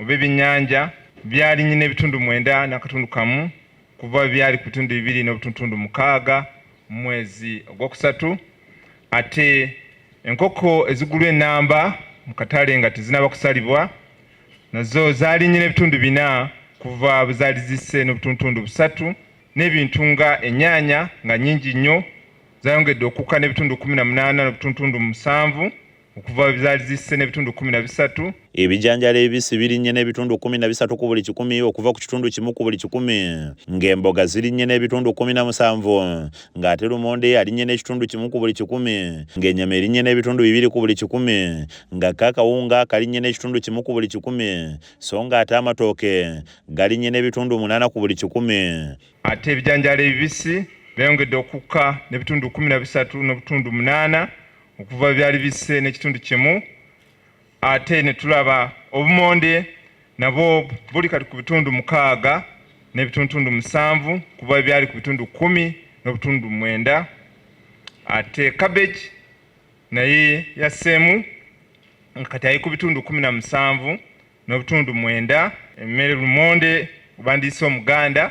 oba ebyennyanja byalinnye n'ebitundu mwenda n'akatundu kamu kuva byali ku bitundu bibiri n'obutuntundu mukaaga mu mwezi ogwokusatu ate enkoko ezigulwa enamba mu katale nga tezinaba kusalibwa nazo zalinnye n'ebitundu bina kuva bwe zaali zisse n'obutuntundu busatu n'ebintu nga ennyaanya nga nnyingi nnyo zayongedde okukka n'ebitundu kumi na munaana n'obutuntundu musanvu okuva ebizaali zisse n'ebitundu kumi na bisatu ebijanjalo ebisi birinnye n'ebitundu kumi na bisatu ku buli kikumi okuva ku kitundu kimu ku buli kikumi ng'emboga zirinnye n'ebitundu kumi na musanvu ng'ate lumonde alinnye n'ekitundu kimu ku buli kikumi ng'enyama erinnye n'ebitundu bibiri ku buli kikumi nga ko akawunga kalinnye n'ekitundu kimu ku buli kikumi so ng'ate amatooke galinnye n'ebitundu munaana ku buli kikumi ate ebijanjalo ebibisi byayongedde okukka n'ebitundu kumi na bisatu n'obutundu munaana okuva byali bisse n'ekitundu kimu ate ne tulaba obumonde nabwo buli kati ku bitundu mukaaga n'ebitundutundu musanvu kuba byali ku bitundu kumi n'obutundu mwenda ate cabbage naye yasseemu kati ali ku bitundu kumi na musanvu n'obutundu mwenda emmere lumonde kubandiisa omuganda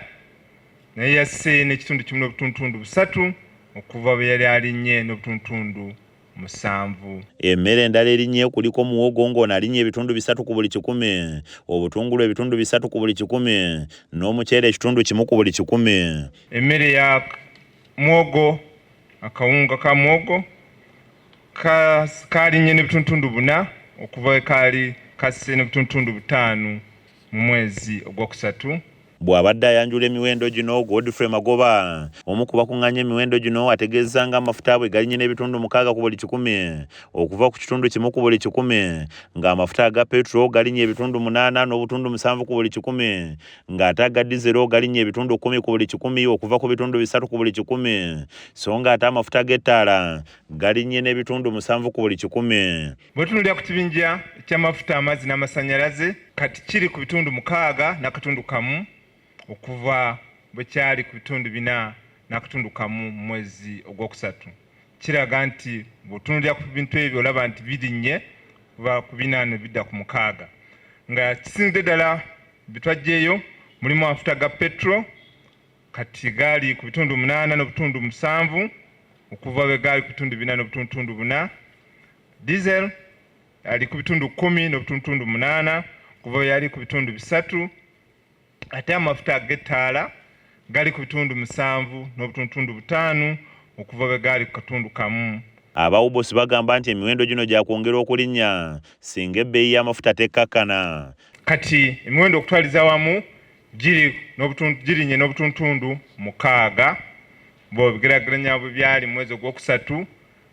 naye yasse n'ekitundu kimu n'obutundutundu busatu okuva bwe yali alinnye n'obutundutundu musanvu. Emmere endala erinnye kuliko muwogo ng'ono alinnye ebitundu bisatu ku buli kikumi, obutungulu ebitundu bisatu ku buli kikumi n'omuceere ekitundu kimu ku buli kikumi. Emmere ya muwogo akawunga ka muwogo kaalinnye ne bituntundu buna okuva we kaali kasse ne bituntundu butaano mu mwezi ogwokusatu Bw'abadde ayanjula emiwendo gino, Godfrey Magoba, omu ku bakuŋŋaanya emiwendo gino ategeezza nga amafuta bwe galinye n'ebitundu mukaaga ku buli kikumi okuva ku kitundu kimu ku buli kikumi ng'amafuta aga petro galinye ebitundu munaana n'obutundu musanvu ku buli kikumi ng'ate aga dizero galinnya ebitundu kkumi ku buli kikumi okuva ku bitundu bisatu ku buli kikumi so ng'ate amafuta g'ettaala galinnye n'ebitundu musanvu ku buli kikumi bwetunulira ku kibinja ky'amafuta amazzi n'amasannyalaze kati kiri ku bitundu mukaaga n'akatundu kamu okuva bwe kyali ku bitundu bina n'akatundu kamu mu mwezi ogwokusatu kiraga nti bw'otunulira ku bintu ebyo olaba nti birinnye kuva ku bina ne bidda ku mukaaga nga kisinzidde ddala Bitwajjeeyo mulimu amafuta ga petro kati gaali ku bitundu munaana n'obutundu musanvu okuva bwe gaali ku bitundu bina n'obutundu buna. Diesel ali ku bitundu kumi n'obutundu munaana okuva bwe yali ku bitundu bisatu ate amafuta ag'ettaala gali ku bitundu musanvu n'obutundutundu butaano okuva bwe gaali ku katundu kamu. Aba UBOS bagamba nti emiwendo gino gyakwongera okulinnya singa ebbeeyi y'amafuta tekkakkana. Kati emiwendo okutwaliza wamu girinnye n'obutundutundu mukaaga bw'obigeraageranya bwe byali mu mwezi ogwokusatu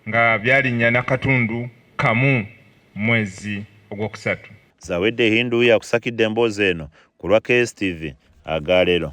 nga byalinnya na katundu kamu mu mwezi ogwokusatu. Zawedde Hindu yakusakidde emboozi eno ku lwa KSTV agaalero.